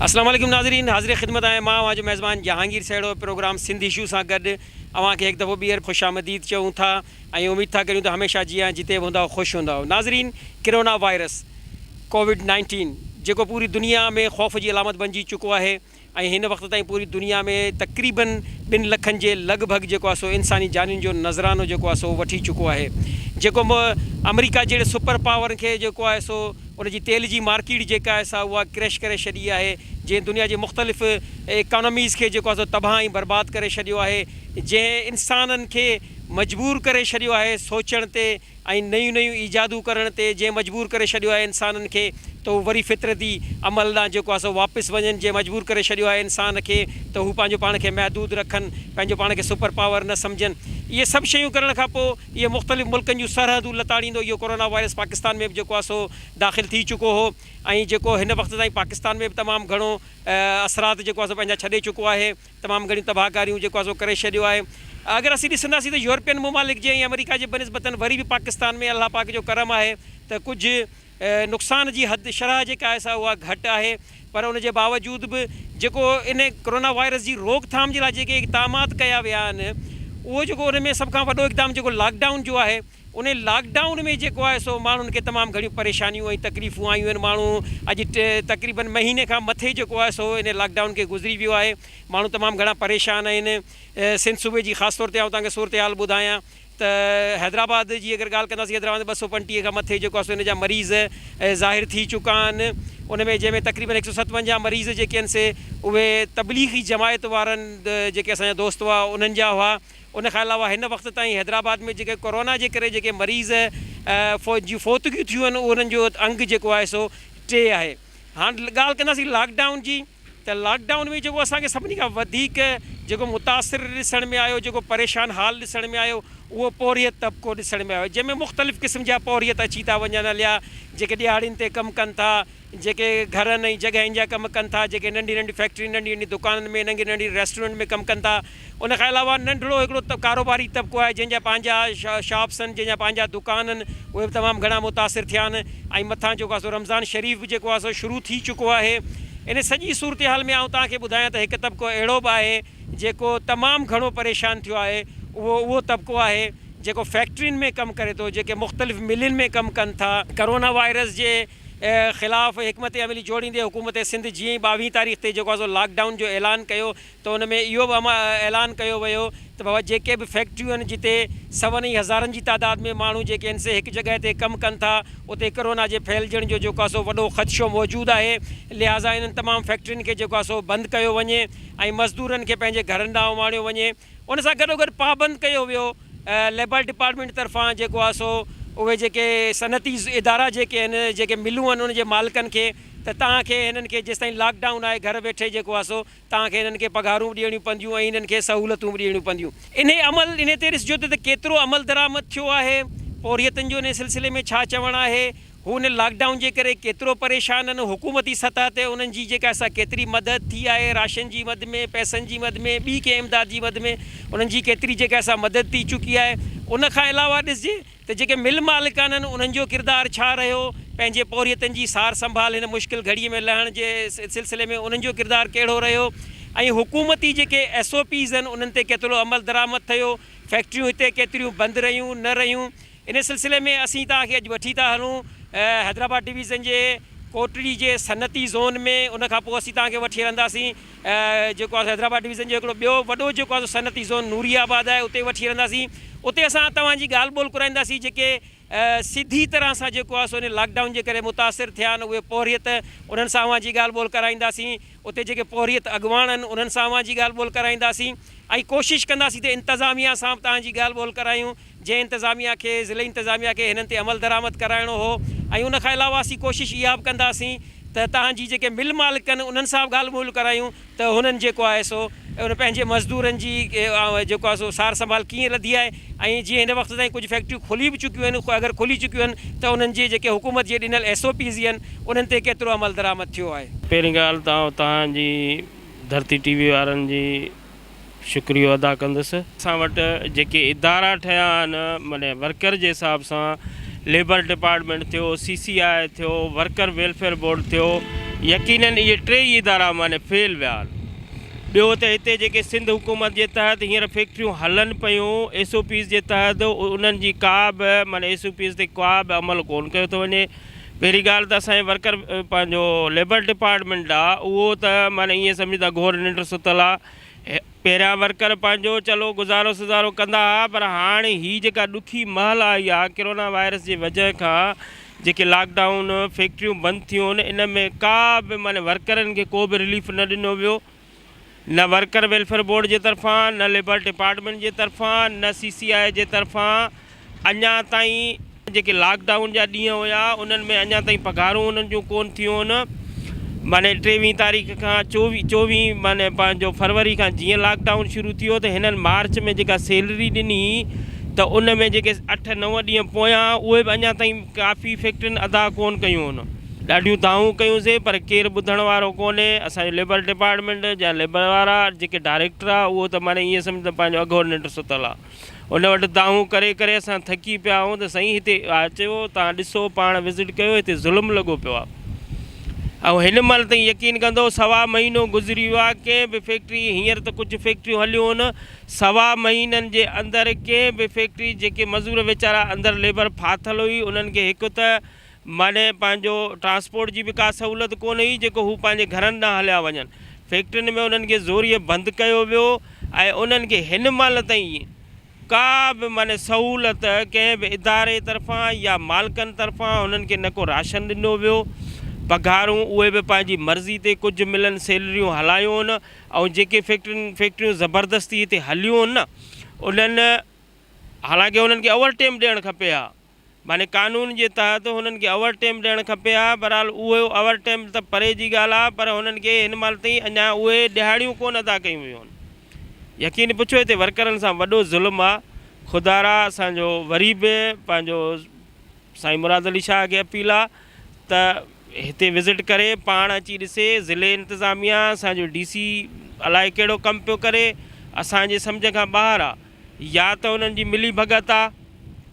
السلام عليڪم ناظرين حاضر خدمت آهيان مان اوهان جو ميزبان جهانگير سهڙو پروگرام سنڌ اشو سان گڏ اوهان کي هڪ دفعو ٻيهر خوش آمديد چئون ٿا ۽ اميد ٿا ڪريون ته هميشه جيان جتي به هوندا خوش هوندا ناظرين ڪرونا وائرس ڪووڊ نائنٽين جيڪو پوري دنيا ۾ خوف جي علامت بنجي چڪو آهي ۽ هن وقت تائين پوري دنيا ۾ تقريبن ٻن لکن جي لڳ ڀڳ جيڪو آهي سو انساني جانين جو نذرانو جيڪو آهي سو وٺي چڪو آهي جيڪو آمريڪا جهڙي سپر پاورن کي جيڪو آهي سو ان جي تيل جي مارڪيٽ جيڪا آهي سا اها ڪريش ڪري ڇڏي آهي جنهن دنيا جي مختلف اڪانوميز کي جيڪو آهي سو تباهه ۽ برباد ڪري ڇڏيو آهي جنهن انسانن کي مجبور ڪري ڇڏيو آهي سوچڻ تي ۽ نيون نيون ايجادون ڪرڻ تي جنهن مجبور ڪري ڇڏيو آهي انسانن کي ته هو وري فطرتي عمل ڏانهن جيڪو آهي سو واپس وڃن جنهن مجبور ڪري ڇڏيو آهي انسان کي ته هو پنهنجو پاڻ کي محدود رکن پنهنجو پاڻ کي سپر پاور نه سمجهن اهي سڀ شيون ڪرڻ کان پوء اهي مختلف ملڪن جون سرحدون لتاڙيندو اهو ڪورونا وائرس پاڪستان ۾ به جيڪو آهي سو داخل ٿي چڪو هو ۽ جيڪو هن وقت تائين پاڪستان ۾ به تمام گهڻو اثرات جيڪو آهي سو پنهنجا ڇڏي چڪو آهي. تمام گهڻيون تباهڪاريون جيڪو آهي سو ڪري ڇڏيو آهي اگر اسين ڏسنداسين ته يورپين ممالڪ جي ۽ آمريڪا جي بنسبتن وري به پاڪستان ۾ الله پاڪ جو ڪرم آهي ته ڪجهه نقصان جي حد شرح جيڪا آهي سا اها گهٽ آهي پر ان جي باوجود به جيڪو ان ڪرونا وائرس جي روڪ ٿام جي لاء جيڪي اقدامات ڪيا ويا آهن اهو جيڪو ان ۾ سڀ کان وڏو اقدام جيڪو لاڪ ڊائون جو آهي ان لاڪ ڊائون ۾ جيڪو آهي سو ماڻهن کي تمام گهڻيون پريشانيون ۽ تڪليفون آيون آهن ماڻهو اڄ تقريبن مهيني کان مٿي جيڪو آهي سو ان لاڪ ڊائون کي گذري ويو آهي ماڻهو تمام گهڻا پريشان آهن سنڌ صوبي جي خاص طور تي آئون توهان کي صورتحال ٻڌايان ته حيدرآباد جي اگر ڳالهه ڪنداسين حيدرآباد ٻه سؤ پنجٽيهه کان مٿي جيڪو آهي سو ان جا مريض ظاهر ٿي چڪا آهن ان ۾ جنهن ۾ تقريبن هڪ سؤ ستونجاهه مريض جيڪي آهن سي اهي تبليغي جماعت وارن جيڪي اسان جا دوست هئا انهن جا هئا. ان کان علاوه هن وقت تائين حيدرآباد ۾ جيڪي ڪورونا جي ڪري جيڪي مريض جون فوتگيون ٿيون آهن انهن جو انگ جيڪو آهي سو ٽي آهي. هاڻ ڳالهه ڪنداسين لاڪ ڊائون جي ته لاڪ ڊائون ۾ جيڪو اسان کي سڀني کان وڌيڪ جيڪو متاثر ڏسڻ ۾ آيو جيڪو پريشان حال ڏسڻ ۾ آيو اهو پورهيت طبقو ڏسڻ ۾ آيو جنهن ۾ مختلف قسم جا پورهيت اچي ٿا وڃن هليا جيڪي ڏهاڙين تي ڪم ڪن ٿا جيڪي گهرن ۽ جڳهين جا ڪم ڪن ٿا، جيڪي ننڍي ننڍي فيڪٽرين، ننڍي ننڍي دڪانن ۾ ننگي ننڍي ريسٽورنٽ ۾ ڪم ڪن ٿا. ان کان علاوه ننڍڙو هڪڙو ڪاروباري طبقو آهي جنهن جا پنهنجا شاپس آهن، جنهن جا پنهنجا دڪان آهن، اهي به تمام گهڻا متاثر ٿيا آهن ۽ مٿان جيڪو آهي سو رمضان شريف به جيڪو آهي سو شروع ٿي چڪو آهي. ان سڄي صورتحال ۾ آئون توهان کي ٻڌايان ته هڪ طبقو اهڙو به آهي جيڪو تمام گهڻو پريشان ٿيو آهي، اهو اهو طبقو آهي جيڪو فيڪٽرين ۾ ڪم ڪري ٿو، جيڪي مختلف ملين ۾ ڪم ڪن ٿا. ڪورونا وائرس جي خلاف حڪمت عملي جوڙيندي حڪومت سنڌ جيئن ئي ٻاوهين تاريخ تي جيڪو آسو لاڪ ڊائون جو اعلان ڪيو ته ان ۾ اهو به اعلان ڪيو ويو ته بابا جيڪي به فيڪٽريون آهن جتي سون ۽ هزارن جي تعداد ۾ ماڻهو جيڪي آهن سي هڪ جڳهه تي ڪم ڪن ٿا اتي ڪرونا جي ڦهلجڻ جو جيڪو آسو وڏو خدشو موجود آهي لهٰذا انهن تمام فيڪٽرين کي جيڪو آسو بند ڪيو وڃي ۽ مزدورن کي پنهنجي گهرن ڏانهن اماڻيو وڃي. ان سان گڏوگڏ پابند ڪيو ويو ليبر ڊپارٽمينٽ طرفان جيڪو آهي سو اهي جيڪي صنعتي ادارا جيڪي آهن جيڪي ملون آهن ان جي مالڪن کي ته توهان کي هنن کي جيستائين لاڪ ڊائون آهي گهر ويٺي جيڪو آهي سو توهان کي هنن کي پگهارون به ڏيڻيون پونديون ۽ هنن کي سهولتون به ڏيڻيون پونديون. انهي عمل انهي تي ڏسجو ته ڪيترو عملدرآمد ٿيو آهي پورهيتن جو انهي سلسلي ۾ ڇا چوڻ آهي هو هن لاڪ ڊائون جي ڪري ڪيترو پريشان آهن، حڪومتي سطح تي انهن جي جيڪا سا ڪيتري مدد ٿي آهي، راشن جي مد ۾، پئسن جي مد ۾، ٻي ڪنهن امداد جي مد ۾ انهن جي ڪيتري جيڪا سا مدد ٿي چڪي آهي، ان کان علاوه ڏسجي ته جيڪي مل مالڪ آهن انهن جو ڪردار ڇا رهيو، پنهنجي پورهيتن جي سار سنڀال هن مشڪل گهڙي ۾ لهڻ جي سلسلي ۾ انهن جو ڪردار ڪهڙو رهيو ۽ حڪومتي جيڪي ايس او پيز آهن انهن تي ڪيترو عمل درآمد ٿيو، فيڪٽريون هتي ڪيتريون بند رهيون، نه رهيون، ان سلسلي ۾ اسين توهان کي اڄ وٺي ٿا هلون حيدرآباد ڊويزن جي ڪوٽڙي جي صنعتي زون ۾ ان کان پوء اسين توهان کي وٺي هلنداسين جيڪو آهي سو حيدرآباد ڊويزن جو هڪڙو ٻيو وڏو جيڪو آهي سو صنعتي زون نوري آباد آهي اتي وٺي هلنداسين اتي اسان توهان جي ڳالهه ٻولهه ڪرائينداسين جيڪي سڌي طرح سان جيڪو آهي سو ان لاڪ ڊائون جي ڪري متاثر ٿيا آهن اهي پورهيت انهن سان اوهان جي ڳالهه ٻولهه ڪرائينداسين اتي جيڪي پورهيت اڳواڻ آهن انهن سان اوهان جي ڳالهه ٻولهه ڪرائينداسين ۽ ڪوشش ڪنداسين ته انتظاميا سان به توهان جي ڳالهه ٻولهه ڪرايون جنهن انتظاميا کي، ضلعي انتظاميا کي هنن تي عملدرآمد ڪرائڻو هو ۽ ان کان علاوه اسين ڪوشش اها به ڪنداسين ته تهان جي جيڪي مل مالڪ ڪن انهن سان به ڳالهه ٻولهه ڪرايون ته هنن جيڪو آهي سو ان پنهنجي مزدورن جي جيڪو آهي سو سار سنڀال ڪيئن رڌي آهي ۽ جيئن هن وقت تائين ڪجهه فيڪٽريون کلي به چڪيون آهن اگر کلي چڪيون آهن ته انهن جي جيڪي حڪومت جي ڏنل ايس او پيز آهن انهن تي ڪيترو عملدرآمد ٿيو آهي. پهرين ڳالهه ته آئون تهان جي ڌرتي ٽي وي وارن جي شڪريو ادا ڪندس. اسان وٽ جيڪي ادارا ٺهيا آهن معني ورڪر جي حساب سان ليبر ڊپارٽمينٽ ٿيو، سي سي آء ٿيو، ورڪر ويلفيئر بورڊ ٿيو يقينن اهي ٽي ئي ادارا معني فيل ويا آهن. ٻيو ته هتي جيڪي سنڌ حڪومت جي تحت هينئر فيڪٽريون هلن پيون ايس او پيز جي تحت انهن جي ڪا به معني ايس او پيز تي ڪا به عمل ڪون ڪيو ٿو وڃي. پهرين ڳالهه ته اسان جي ورڪر پنهنجو ليبر ڊپارٽمينٽ آ اهو ته معنيٰ ايئن سمجهه ته گهور ننڊ ستل آ. پهريان ورڪر پنهنجو چلو گذارو سزارو ڪندا ها پر هاڻ هي جيڪا ڏکي مهل آئي آ ڪرونا وائرس جي وجهه کان جيڪي لاڪ ڊائون فيڪٽريون بند ٿيون ان ۾ ڪا به معنيٰ ورڪرن کي ڪو به رليف نه ڏنو ويو. نه ورڪر ويلفيئر بورڊ جي طرفان، نه ليبر ڊپارٽمينٽ جي طرفان، نه سي سي آء جي طرفان اڃا تائين جيڪي لاڪ ڊائون جا ڏينهن هيا انهن ۾ اڃا تائين پگهارون انهن جون ڪون ٿيون معني ٽيويهين تاريخ کان چوويهين چوويهين معني پنهنجو فروري کان جيئن لاڪ ڊائون شروع ٿيو ته هنن مارچ ۾ جيڪا سيلري ڏني ته ان ۾ جيڪي اٺ نو ڏينهن پويان اهي به اڃا تائين ڪافي فيڪٽرين ادا ڪون ڪيون ڏاڍيون دانهون ڪيون سين پر ڪير ٻڌڻ وارو ڪونهي، اسان جو ليبر ڊپارٽمينٽ جا ليبر وارا جيڪي ڊائريڪٽر آ اهو ته معنيٰ ائين سمجهه ته پنهنجو اگهور ننڊ ستل آ، ان وٽ دانهون ڪري ڪري اسان ٿڪي پيا آهيون ته سائين هتي اچو تان ڏسو پاڻ وزٽ ڪيو هتي ظلم لڳو پيو آ ۽ هن مهل تائين يقين ڪندو سوا مهينو گذري ويو آ ڪنهن به فيڪٽري هينئر ته ڪجهه فيڪٽريون هليون هن سوا مهينن جي اندر ڪنهن به فيڪٽري جيڪي مزور ويچارا اندر ليبر ڦاٿل هئي انهن کي هڪ ته ماڏئين پنهنجو ٽرانسپورٽ جي به ڪا سهولت ڪونه هئي جيڪو هو پنهنجي گهرن ڏانهن هليا وڃن. فيڪٽرين ۾ انهن کي زوريء بند ڪيو ويو ۽ انهن کي هن مهل تائين ڪا به معني سهولت ڪنهن به اداري طرفان يا مالڪن طرفان هنن کي نه ڪو راشن ڏنو ويو پگهارون اهي به پنهنجي مرضي تي ڪجهه ملن سيلريون هلايون هن ۽ جيڪي فيڪٽرين فيڪٽريون زبردستي هتي هليون هن انهن حالانڪه انهن کي اوورٽيم ڏيڻ کپي ها. معني قانون جي تحت هنن کي اوور ٽيم ڏيڻ کپي ها، بھرحال اهو اوور ٽيم ته پري جي ڳالھ آ پر هنن کي هن مھل تائين اڃا اهي ڏهاڙيون ڪونه ادا ڪيون ويون آھن. يقين پڇو هتي ورڪرن سان وڏو ظلم آ. خدارا اسان جو وري به پنهنجو سائين مراد علي شاهه کي اپيل آ ته هتي وزٽ ڪري پاڻ اچي ڏسي ضلعي انتظاميه اسان جو ڊي سي الائي ڪهڙو ڪم پيو ڪري اسان جي سمجھ کان ٻاهر آ. يا ته انهن جي ملي ڀڳت آ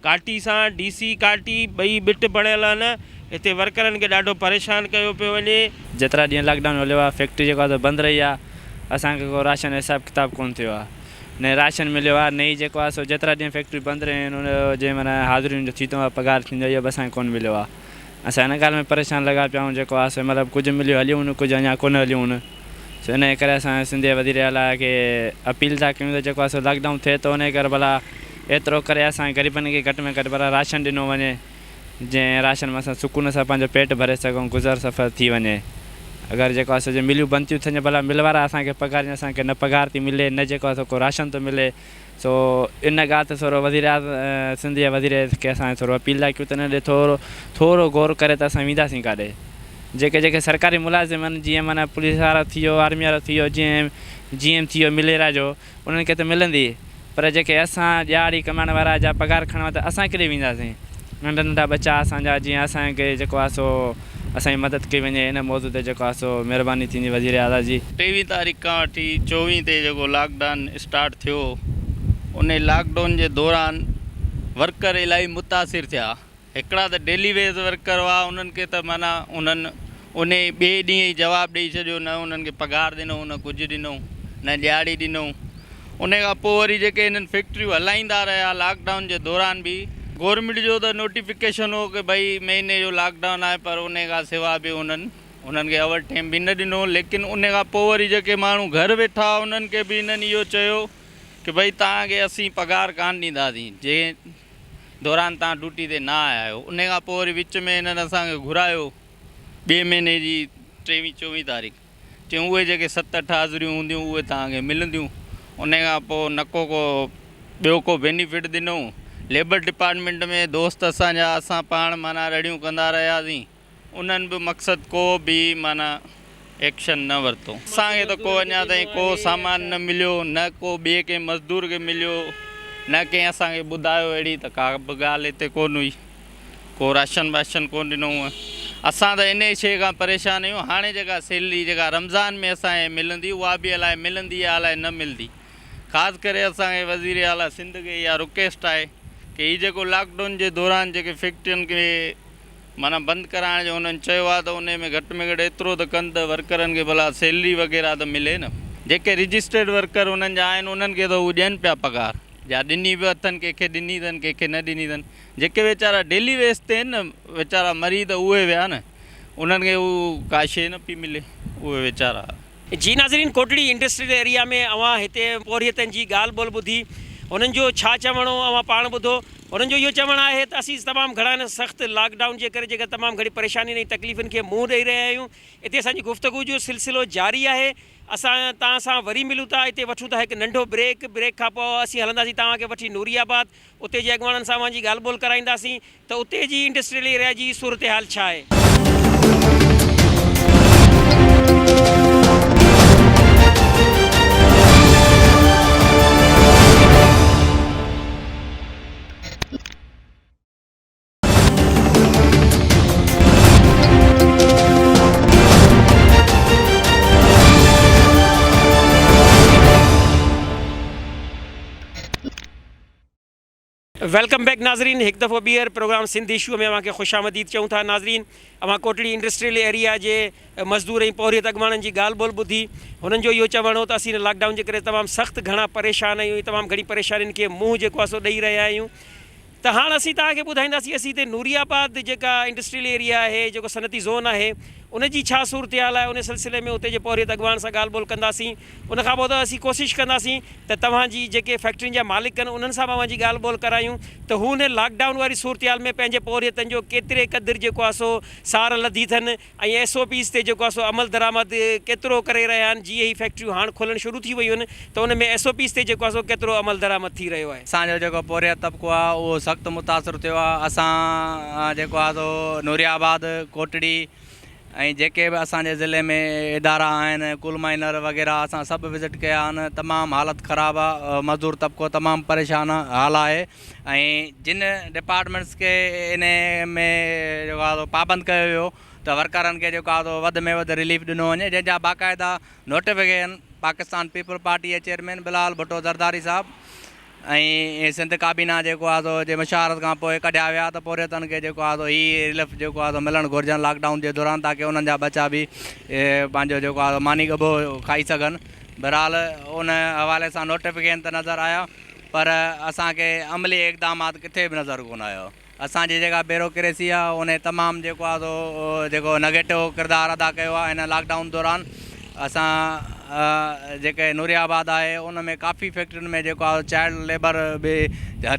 ڪاٽي سان ڊي سي ڪاٽي ٻئي ٻٽ بڻيل آھن ھتي ورڪرن کي ڏاڍو پريشان ڪيو پيو وڃي. جيترا ڏينهن لاڪ ڊائون ھليو آ فيڪٽري جيڪو آ سو بند رھي آ اسان کي ڪو راشن حساب ڪتاب ڪون ٿيو آ نه راشن مليو آ نه ئي جيڪو آ سو جيترا ڏينهن فيڪٽريون بند رھيون آھن ان جو جنهن مھينا حاضرين جو ٿيتو آ پگھار ٿيندو آ اھو به اسان کي ڪون مليو آ اسان ان ڳالھ ۾ پريشان لڳا پيا آھيون جيڪو آ سو مطلب ڪجھ مليو ھليون ڪجھ اڃان ڪون ھليون سو انهيء ڪري اسان سنڌ جي وزير اعليٰ کي اپيل ٿا ڪيون ته جيڪو آهي سو لاڪ ڊائون ٿئي ٿو انهيء ڪري ڀلا ايترو ڪري اسان غريبن کي گهٽ ۾ گهٽ ڀلا راشن ڏنو وڃي جنهن راشن مان اسان سڪون سان پنهنجو پيٽ ڀري سگهون گذر سفر ٿي وڃي اگر جيڪو آهي سو جي مليون بند ٿيون ٿين ڀلا مل وارا اسان کي پگهارين اسان کي نه پگهار ٿي ملي نه جيڪو آهي سو ڪو راشن ٿو ملي. سو ان ڳالهه تي ٿورو وزيراعظ سنڌ جي وزير کي اسان کي ٿورو اپيل لاء ڪيو ته ان ڏي ٿورو ٿورو غور ڪري ته اسان وينداسين ڪاڏي جيڪي جيڪي سرڪاري ملازم آهن جيئن معنيٰ پوليس وارو ٿي ويو آرمي وارو ٿي ويو جيئن جي ايم ٿي ويو مليرا جو انهن کي ته ملندي پر جيڪي اسان ڏيهاڙي ڪمائڻ وارا جا پگهار کڻڻ وارا ته اسان ڪيڏي وينداسين ننڍا ننڍا ٻچا اسان جا جيئن اسان کي جيڪو آهي سو اسان جي مدد ڪئي وڃي ان موضوع تي جيڪو آهي سو مهرباني ٿيندي وزير اعليٰ جي. ٽيويهين تاريخ کان وٺي چوويهين تي جيڪو لاڪ ڊائون اسٽارٽ ٿيو ان لاڪ ڊائون جي دوران ورڪر الاهي متاثر ٿيا هڪڙا ته ڊيلي ويز ورڪر هئا انهن کي ته معنيٰ انهن انهي ٻئي ڏينهن ئي جواب ڏئي ڇڏيو نه انهن کي پگهار ڏنو نه ڪجهه ڏنو نه ڏيهاڙي ڏنو ان کان پوء وري جيڪي هنن فيڪٽريون هلائيندا رهيا لاڪ ڊائون جي دوران به گورنمينٽ جو ته نوٽيفڪيشن هو ڪه ڀئي مهيني جو لاڪ ڊائون آهي پر ان کان سوا به هنن هنن کي اوور ٽيم به نه ڏنو ليڪن ان کان پوء وري جيڪي ماڻهو گهر ويٺا هئا انهن کي به هنن اهو چيو ڪه ڀئي توهان کي اسين پگهار ڪانه ڏينداسين جنهن دوران توهان ڊوٽي تي نه آيا آهيو ان کان پوء وري وچ ۾ هنن اسان کي گهرايو ٻئي مهيني جي ٽيوي چووي تاريخ. چيون اهي جيڪي ست اٺ حاضريون هونديون اهي توهان کي ملنديون ان کان پوء نه ڪو ڪو ٻيو ڪو بينيفٽ ڏنئون ليبر ڊپارٽمينٽ ۾ دوست اسان جا اسان پاڻ معنيٰ رڙيون ڪندا رهياسين انهن به مقصد ڪو به معنيٰ ايڪشن نه ورتو اسان کي ته ڪو اڃا تائين ڪو سامان نه مليو نه ڪو ٻئي ڪنهن مزدور کي مليو نه ڪنهن اسان کي ٻڌايو اهڙي ته ڪا به ڳالهه هتي ڪونه هئي. ڪو راشن باشن ڪو ڏنو هونء اسان ته انهي شيء کان پريشان آهيون هاڻي جيڪا سيلري جيڪا رمضان ۾ اسان کي ملندي اها به الاء ملندي يا الاء نه ملندي خاص ڪري اسان کي وزير اعليٰ سنڌ کي اها رڪيسٽ آهي ڪي هي جيڪو لاڪ ڊون جي دوران جيڪي فيڪٽرين کي معنيٰ بند ڪرائڻ جو هنن چيو آهي ته انهي ۾ گهٽ ۾ گهٽ ايترو ته ڪن ته ورڪرن کي ڀلا سيلري وغيره ته ملي نه. جيڪي رجسٽرڊ ورڪر انهن جا آهن انهن کي ته هو ڏين پيا پگهار جا ڏني به اٿن ڪنهن کي ڏني اٿن ڪنهن کي نه ڏني اٿن جيڪي ويچارا ڊيلي ويس تي ان ويچارا مريد اهي ويا نه انهن کي هو ڪا شي نه پي ملي اهي ويچارا. جي ناظرين ڪوٽڙي انڊسٽريل ايريا ۾ اوهان هتي پورهيتن جي ڳالهه ٻولهه ٻڌي هنن جو ڇا چوڻ هو اوهان پاڻ ٻڌو هنن جو اهو چوڻ آهي ته اسين تمام گهڻا هن سخت لاڪ ڊائون جي ڪري جيڪا تمام گهڻي پريشانين ۽ تڪليفن کي منهن ڏئي رهيا آهيون هتي اسان جي گفتگو جو سلسلو جاري آهي اسان توهان سان وري ملون ٿا هتي وٺون ٿا هڪ ننڍو بريڪ بريڪ کان پوء اسين هلنداسين توهان کي وٺي نوري آباد اتي جي اڳواڻن سان اوهان جي ڳالهه ٻولهه ڪرائينداسين ته اتي جي انڊسٽريل ايريا جي صورتحال ڇا آهي. ويلڪم بيڪ ناظرين هڪ دفعو ٻيهر پروگرام سنڌ ايشو ۾ اوهان کي خوش آمديد چئون ٿا ناظرين اوهان ڪوٽڙي انڊسٽريل ايريا جي مزدور ۽ پورهيت اڳواڻن جي ڳالهه ٻولهه ٻڌي هنن جو اهو چوڻ هو ته اسين لاڪ ڊائون جي ڪري تمام سخت گهڻا پريشان آهيون تمام گهڻي پريشانين کي منهن جيڪو آهي سو ڏئي رهيا آهيون ته هاڻ اسين توهان کي ٻڌائينداسين اسين هتي نوري آباد جيڪا انڊسٽريل ايريا آهي جيڪو صنعتي زون آهي ان جي ڇا صورتحال آهي ان سلسلي ۾ اتي جي پورهيت اڳواڻ سان ڳالهه ٻولهه ڪنداسين ان کان پوء ته اسين ڪوشش ڪنداسين ته توهان جي جيڪي فيڪٽرين جا مالڪ آهن انهن سان به اوهان جي ڳالهه ٻولهه ڪرايون ته هو هن لاڪ ڊائون واري صورتحال ۾ پنهنجي پورهيتن جو ڪيتري قدر جيڪو آهي سو سار لڌي اٿن. ۽ ايس او پيز تي جيڪو آهي سو عمل درآمد ڪيترو ڪري رهيا آهن جيئن هي فيڪٽريون هاڻ کولڻ شروع ٿي ويون آهن ته ان ۾ ايس او پيز تي جيڪو آهي سو ڪيترو عمل درآمد ٿي رهيو آهي. اسان جو جيڪو پورهيت طبقو آهي اهو سخت متاثر ٿيو آهي اسان جيڪو آهي سو نوري آباد ڪوٽڙي ۽ جيڪي به اسان جي ضلعي ۾ ادارا آهن ڪول مائنر وغيره اسان سڀ وزٽ ڪيا آهن تمام حالت خراب آهي مزدور طبقو تمام پريشان حال آهي ۽ جن ڊپارٽمينٽس کي ان ۾ جيڪو آهي سو پابند ڪيو ويو ته ورڪرن کي جيڪو آهي سو وڌ ۾ وڌ رليف ڏنو وڃي جنهن جا باقاعده نوٽيفڪيشن پاڪستان پيپلز پارٽي جي چيئرمين بلال ڀٽو زرداري صاحب ۽ سنڌ ڪابينا جيڪو آهي سو جي مشاورت کان پوء ڪڍيا ويا ته پورهيتن کي جيڪو آهي سو هي رليف جيڪو آهي سو ملڻ گهرجن لاڪ ڊائون جي دوران تاڪه انهن جا ٻچا به پنهنجو جيڪو آهي سو ماني ڳڀو کائي سگهن بهرحال ان حوالي سان نوٽيفڪيشن ته نظر آيا پر اسان کي عملي اقدامات ڪٿي به نظر ڪونه آيو. اسان جي جيڪا بيوروڪريسي آ انهي تمام جيڪو آ سو جيڪو نيگيٽو ڪردار ادا ڪيو آ هن لاڪ ڊائون دوران. اسان جيڪي نوري آباد آهي ان ۾ ڪافي فيڪٽرين ۾ جيڪو آ چائلڊ ليبر به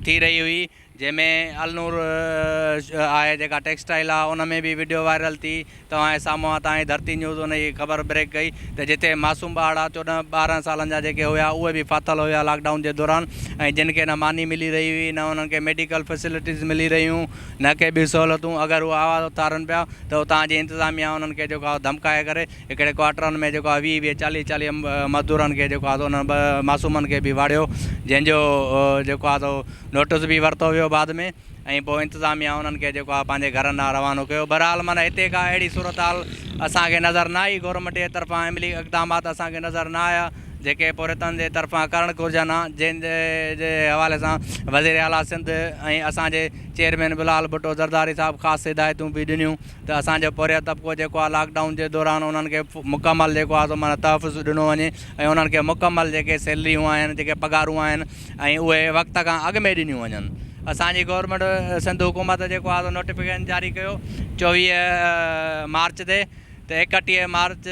ٿي رهي هئي. جنهن ۾ النور آهي جيڪا ٽيڪسٽائيل آ ان ۾ به وڊيو وائرل ٿي توهان جي سامهون آ تان ئي ڌرتي نيوز ان جي خبر بريڪ ڪئي ته جتي معصوم ٻارڙا چوڏهن ٻارهن سالن جا جيڪي هيا اهي به ڦاٿل هيا لاڪ ڊائون جي دوران ۽ جن کي نه ماني ملي رهي هئي نه انهن کي ميڊيڪل فيسلٽيز ملي رهيون نه ڪي به سهولتون اگر هو آواز اٿارن پيا ته اتان جي انتظاميا انهن کي جيڪو آ ڌمڪائي ڪري هڪڙي ڪوارٽرن ۾ جيڪو آهي ويهه ويهه چاليهه چاليهه مزدورن کي جيڪو آهي سو انهن ٻه معصومن کي به واڙيو جنهن جو جيڪو آهي سو نوٽس به ورتو ويو بعد ۾ ۽ پوء انتظاميا انهن کي جيڪو آهي پنهنجي گهرن ڏانهن روانو ڪيو بهرحال معنيٰ هتي ڪا اهڙي صورتحال اسان کي نظر نه آئي گورنمينٽ جي طرفان عملي اقدامات اسان کي نظر نه آيا جيڪي پورهيتن جي طرفان ڪرڻ گهرجن ها جنهن جي حوالي سان وزير اعليٰ سنڌ ۽ اسان جي چيئرمين بلال ڀٽو زرداري صاحب خاص هدايتون به ڏنيون ته اسان جو پورهيت طبقو جيڪو آهي لاڪ ڊائون جي دوران انهن کي مڪمل جيڪو آهي سو معنيٰ تحفظ ڏنو وڃي ۽ انهن کي مڪمل جيڪي سيلريون آهن جيڪي پگهارون آهن ۽ اهي وقت کان اڳ ۾ ڏنيون وڃن اسان جي گورنمينٽ سنڌ حڪومت جيڪو آهي سو نوٽيفڪيشن جاري ڪيو چوويهه مارچ تي ته ايڪٽيهه مارچ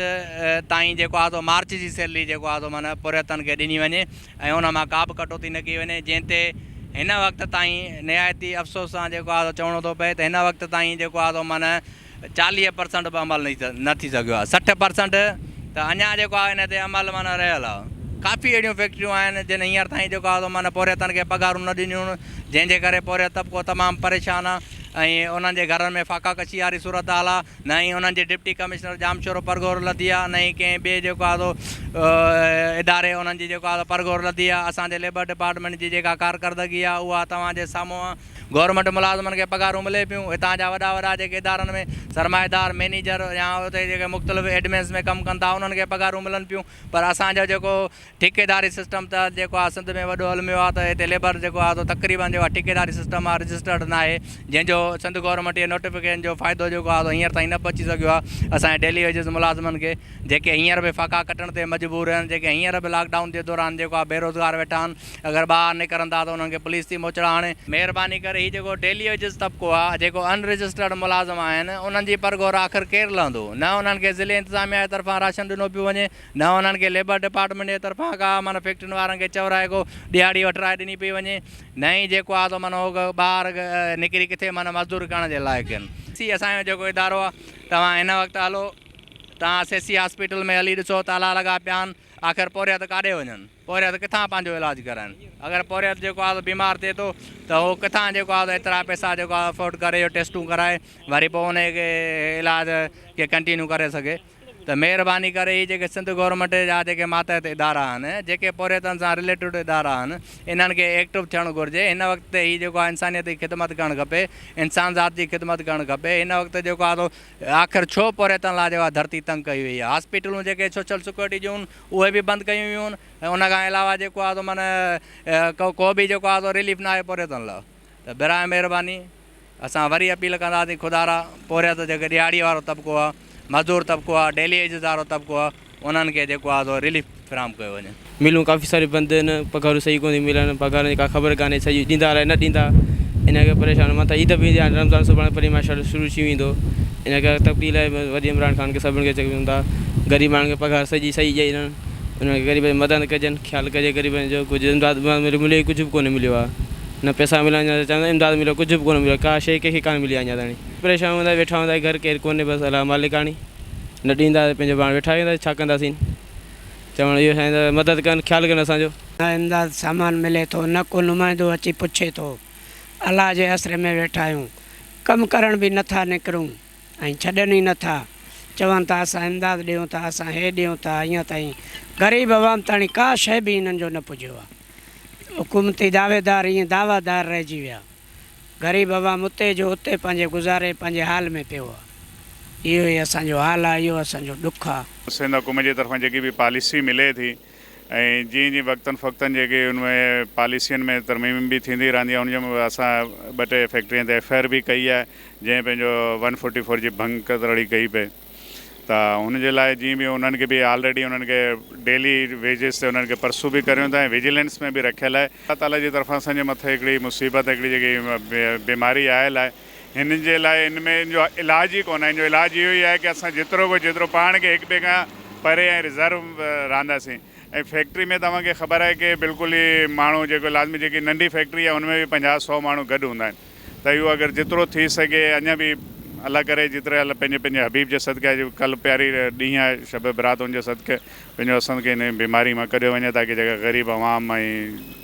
تائين جيڪو آهي سو مارچ جي سيلري جيڪو آهي سو معنيٰ پورهيتن کي ڏني وڃي ۽ ان مان ڪابه ڪٽوتي نه ڪئي وڃي جنهن تي هن وقت تائين نهايت ئي افسوس سان جيڪو آهي سو چوڻو ٿو پئي ته هن وقت تائين جيڪو آهي سو معنيٰ چاليهه پرسنٽ به عمل نه ٿي سگهيو آهي سٺ پرسنٽ ته اڃا جيڪو آهي ان تي عمل معنيٰ رهيل آهي ڪافي اهڙيون فيڪٽريون آهن جن هينئر تائين جيڪو آهي سو معنيٰ پورهيتن کي پگهارون نه ڏنيون جنهن جي ڪري پورهيت طبقو تمام پريشان آهي ۽ انهن جي گهرن ۾ فاقا ڪشي واري صورتحال آهي نه ئي انهن جي ڊپٽي ڪمشنر ڄامشورو پرگهور لڌي آ نه ئي ڪنهن ٻئي جيڪو آ سو اداري انهن جي جيڪو آ سو پرگهور لڌي آ اسان جي ليبر ڊپارٽمينٽ جي جيڪا ڪارڪردگي آ اها توهان جي سامهون آ گورنمينٽ ملازمن کي پگهارون ملي پيون هتان جا وڏا وڏا جيڪي ادارن ۾ سرمائيدار مينيجر يا اتي جيڪي مختلف ايڊمنس ۾ ڪم ڪن ٿا انهن کي پگهارون ملن پيون پر اسان جو جيڪو ٺيڪيداري سسٽم تحت جيڪو آ سنڌ ۾ وڏو الميو آ ته هتي ليبر جيڪو آ سو تقريبن جيڪو آ ٺيڪيداري سسٽم آ رجسٽرڊ ناهي جنهن جو سنڌ گورنمينٽ اهي نوٽيفڪيشن جو فائدو جيڪو آ سو هينئر تائين نه پهچي سگهيو آ اسان جي ڊيلي ويجز ملازمن کي جيڪي هينئر به ڦاڪا ڪٽڻ تي مجبور آهن جيڪي هينئر به لاڪ ڊائون جي دوران جيڪو آ بيروزگار ويٺا آهن اگر ٻاهر نڪرن ٿا ته انهن کي پوليس ٿي موچڙا هڻي. مهرباني ڪري هي جيڪو ڊيلي ويجز طبقو آ جيڪو ان رجسٽرڊ ملازم آهن انهن جي پرگهور آخر ڪير لهندو نه انهن کي ضلعي انتظاميا جي طرفان راشن ڏنو پيو وڃي نه انهن کي ليبر ڊپارٽمينٽ جي طرفان ڪا من فيڪٽرين وارن کي چورائي ڪو ڏهاڙي وٺرائي ڏني پئي وڃي نه ئي جيڪو آ سو من هو ٻاهر نڪري ڪٿي من مزدوري ڪرڻ جي لائق آهن. سي اسان جو جيڪو ادارو آ توهان هن وقت هلو توهان سي سي هاسپيٽل ۾ هلي ڏسو تالا لڳا پيا آهن آخر پورهيت ڪاڏي وڃن. پورهيت ڪٿان پنهنجو علاج ڪرائين؟ اگر پورهيت جيڪو آهي سو بيمار ٿئي ٿو ته هو ڪٿان جيڪو آهي سو ايترا پئسا جيڪو آهي افورڊ ڪري جو ٽيسٽون ڪرائي وري پوء ان کي علاج کي ڪنٽينيو ڪري سگهي ته مهرباني ڪري هي جيڪي سنڌ گورنمينٽ جا جيڪي ماتحت ادارا آهن جيڪي پورهيتن سان رليٽيڊ ادارا آهن انهن کي ايڪٽو ٿيڻ گهرجي هن وقت تي هي جيڪو آهي انسانيت جي خدمت ڪرڻ کپي انسان ذات جي خدمت ڪرڻ کپي هن وقت جيڪو آهي سو آخر ڇو پورهيتن لاء جيڪو آهي ڌرتي تنگ ڪئي وئي آهي هاسپيٽلون جيڪي سوشل سيڪيورٽي جون اهي به بند ڪيون ويون ۽ ان کان علاوه جيڪو آهي سو من ڪو به جيڪو آهي سو رليف ناهي پورهيتن لا ته براهه مهرباني اسان وري اپيل ڪنداسين خدا را پورهيت جيڪي ڏهاڙي وارو طبقو آهي مزدور طبقو آهي ڊيلي ويجز وارو طبقو آهي انهن کي جيڪو آهي سو رليف فراهم ڪيو وڃي. ملون ڪافي ساريون بند آهن پگهارون صحيح ڪونٿيون ملن پگهارن جي ڪا خبر ڪانهي سڄي ڏيندا الاهي نه ڏيندا ان ڪري پريشان مٿان عيد به ايندي هاڻي رمضان سڀاڻي پرينء ماشاءالله شروع ٿي ويندو. ان ڪري تبديلي لاء وڏي عمران خان کي سڀني کي چيڪ ملن ٿا غريب ماڻهن کي پگهار سڄي صحيح ڏئي ڏين انهن کي غريبن جي مدد ڪجن خيال ڪجي غريبن جو ڪجهه امداد بمداد ملي ملي ڪجهه به ڪونه مليو آهي نه پيسا مليا نه چوندا آهن امداد مليو ڪجهه به ڪونه مليو ڪا شيء ڪنهن کي ڪانه ملي آهي اڃا تائين پريشان هوندا ويٺا هوندا گهر ڪير ڪونهي بس الله مالڪاڻي نه ڏيندا ته پنهنجو پاڻ ويٺا رهندا ڇا ڪنداسين چوڻ اهو سائين ته مدد ڪن خيال ڪن اسان جو. نه امداد سامان ملي ٿو نه ڪو نمائندو اچي پڇي ٿو الله جي اسري ۾ ويٺا آهيون ڪم ڪرڻ به نه ٿا نڪرون ۽ ڇڏن ئي نه ٿا. چون ٿا اسان امداد ڏيون ٿا، اسان هي ڏيون ٿا، اڃا تائين غريب عوام تاڻي ڪا شيء به هنن جو نه پڄيو آهي. حڪومتي دعويدار ائين دعويٰ دار رهجي ويا. غريب عوام اتي جو اتي پنهنجي گذاري پنهنجي حال ۾ پيو آهي. اهو ئي اسان جو حال آهي، اهو اسان جو ڏک آهي. سنڌ حڪومت جي طرفان جيڪي به پاليسي ملي ٿي. ۽ جيئن جيئن وقتن فوقتن جيڪي ان ۾ پاليسين ۾ ترميم به ٿيندي رهندي آهي ان جي اسان ٻه ٽي فيڪٽرين تي ايف آء آر به ڪئي آهي جنهن پنهنجو ون فورٽي فور جي ڀنگ ڪترڙي ڪئي پئي ته ان جي لاء جيئن به انهن کي به آلريڊي انهن کي ڊيلي ويجز تي انهن کي پرسو به ڪريون ٿا ۽ وجيلنس ۾ به رکيل آهي الله تعالي جي طرفان اسان جي مٿي هڪڙي مصيبت هڪڙي جيڪي بيماري آيل آهي هنن جي لاء ان ۾ ان جو علاج ئي ڪونه آهي، ان جو علاج اهو ئي آهي ڪه اسان جيترو به جيترو پاڻ کي هڪ ٻئي کان پري ۽ رزرو رهنداسين ۽ فيڪٽري ۾ توهان کي خبر آهي ڪه بلڪل ئي ماڻهو جيڪو لازمي جيڪي ننڍي فيڪٽري آهي ان ۾ به پنجاهه سؤ ماڻهو گڏ هوندا آهن ته اهو اگر جيترو ٿي سگهي اڃا به الله ڪري جيتري الله پنهنجي پنهنجي حبيب جي صدقي آهي جيڪو ڪل پياري ڏينهن آهي شب برات ان جي صدقي پنهنجو اسان کي ان بيماري مان ڪڍيو وڃي تاڪه جيڪا غريب عوام ۽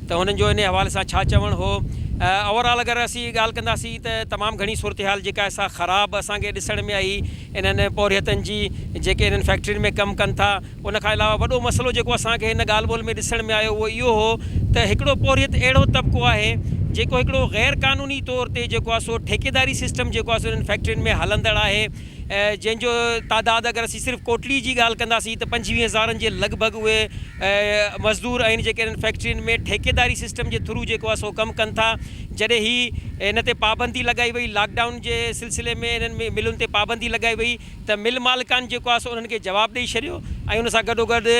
ته هنن جو انهي حوالي سان ڇا چوڻ هو. اوور آل اگر اسين ڳالهه ڪنداسين ته تمام گهڻي صورتحال جيڪا آهي سا خراب اسان کي ڏسڻ ۾ آئي انهن پورهيتن جي جيڪي انهن فيڪٽرين ۾ ڪم ڪن ٿا ان کان علاوه وڏو مسئلو جيڪو اسان کي هن ڳالهه ٻولهه ۾ ڏسڻ ۾ آيو اهو اهو هو ته هڪڙو پورهيت اهڙو طبقو آهي جيڪو هڪڙو غير قانوني طور تي جيڪو آهي سو ٺيڪيداري سسٽم جيڪو آهي سو انهن فيڪٽرين ۾ هلندڙ آهي جنهن جو تعداد اگر اسين صرف ڪوٽڙي جي ڳالهه ڪنداسين ته پنجويهه هزارن جي لڳ ڀڳ اهي مزدور آهن جيڪي انهن فيڪٽرين ۾ ٺيڪيداري سسٽم جي ٿرو جيڪو آهي سو ڪم ڪن ٿا جڏهن هي ان تي پابندي لڳائي وئي لاڪ ڊائون جي سلسلي ۾ انهن ملن تي پابندي لڳائي وئي ته مل مالڪان جيڪو آهي سو انهن کي جواب ڏئي ڇڏيو ۽ ان سان گڏوگڏ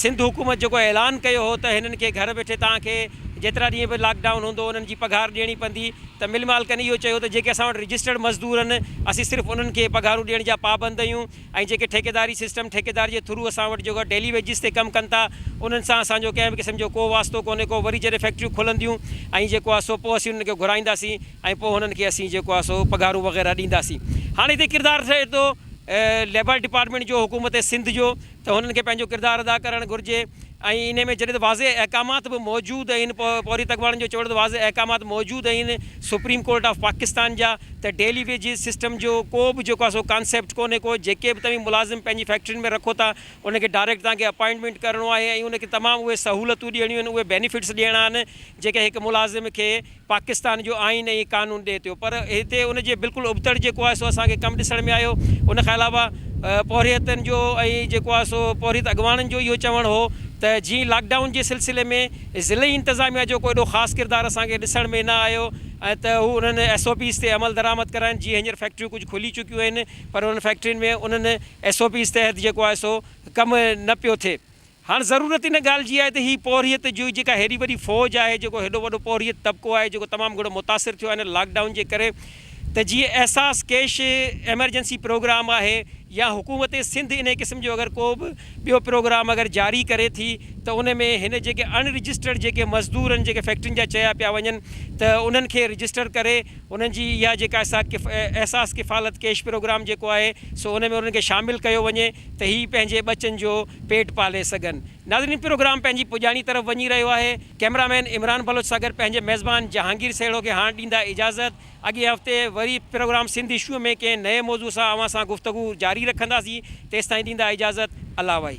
سنڌ حڪومت جيڪو اعلان ڪيو هو ته هنن کي گهر ويٺي توهان کي جيترا ڏينهن به لاڪ ڊائون هوندو انهن جي پگهار ڏيڻي پوندي ته مل مالڪن اهو چيو ته جيڪي اسان وٽ رجسٽرڊ مزدور آهن اسين صرف انهن کي پگهارون ڏيڻ جا پابند آهيون ۽ جيڪي ٺيڪيداري سسٽم ٺيڪيدار جي ٿرو اسان وٽ جيڪو ڊيلي ويجز تي ڪم ڪن ٿا انهن سان اسان جو ڪنهن به قسم جو ڪو واسطو ڪونهي ڪو وري جڏهن فيڪٽريون کلنديون ۽ جيڪو آهي سو پوء اسين انهن کي گهرائينداسين ۽ پوء انهن کي اسين جيڪو آهي سو پگهارون وغيره ڏينداسين هاڻي هتي ڪردار ٿئي ٿو ليبر ڊپارٽمينٽ جو حڪومت سنڌ جو ته هنن کي پنهنجو ڪردار ادا ڪرڻ گهرجي ۽ انهي ۾ جڏهن ته واضح احڪامات به موجود اهين پورهيت اڳواڻن جو چوڻ ته واضح احڪامات موجود اهين سپريم ڪورٽ آف پاڪستان جا ته ڊيلي ويجز سسٽم جو ڪو به جيڪو آهي سو ڪانسيپٽ ڪونهي ڪو جيڪي به توهين ملازم پنهنجي فيڪٽرين ۾ رکو ٿا ان کي ڊائريڪٽ توهان کي اپائنٽمينٽ ڪرڻو آهي ۽ ان کي تمام اهي سهولتون ڏيڻيون آهن اهي بينيفٽس ڏيڻا آهن جيڪي هڪ ملازم کي پاڪستان جو آئين ۽ قانون ڏئي ٿيو پر هتي ان جي بلڪل ابتڙ جيڪو آهي سو اسان کي ڪم ڏسڻ ۾ آيو ان کان علاوه پورهيتن جو ۽ جيڪو آهي سو پورهيت اڳواڻن جو اهو چوڻ هو ته جي لاڪ ڊائون جي سلسلي ۾ ضلعي انتظاميا جو ڪو ايڏو خاص ڪردار اسان کي ڏسڻ ۾ نه آيو ته هو انهن ايس او پيز تي عمل درآمد ڪرائين جيئن هينئر فيڪٽريون ڪجهه کلي چڪيون آهن پر انهن فيڪٽرين ۾ انهن ايس او پيز تحت جيڪو آهي سو ڪم نه پيو ٿئي هاڻ ضرورت ان ڳالهه جي آهي ته هي پورهيت جوئي جيڪا هيڏي وڏي فوج آهي، جيڪو هيڏو وڏو پورهيت طبقو آهي، جيڪو تمام گهڻو متاثر ٿيو آهي هن لاڪ ڊائون جي ڪري ته جي احساس ڪيش ايمرجنسي پروگرام آهي يا حڪومت سنڌ انهي قسم جو اگر ڪو به ٻيو پروگرام اگر جاري ڪري ٿي ته ان ۾ هن جيڪي اڻ رجسٽرڊ جيڪي مزدور آهن جيڪي فيڪٽرين جا چيا پيا وڃن ته انهن کي رجسٽر ڪري انهن جي اها جيڪا احساس ڪفالت ڪيش پروگرام جيڪو آهي سو ان ۾ انهن کي شامل ڪيو وڃي ته هي پنهنجي ٻچن جو پيٽ پالي سگهن. ناظرين پروگرام پنهنجي پڄاڻي طرف وڃي رهيو آهي. ڪئميرا مين عمران بلوچ سان گڏ پنهنجي ميزبان جهانگير سهڙو کي هاڻ ڏيندا اجازت. اڳئين هفتي وري پروگرام سنڌ اشوء ۾ ڪنهن نئين موضوع سان اوهان سان گفتگو جاري رکنداسين. تيستائين ڏيندا اجازت. الله وائي.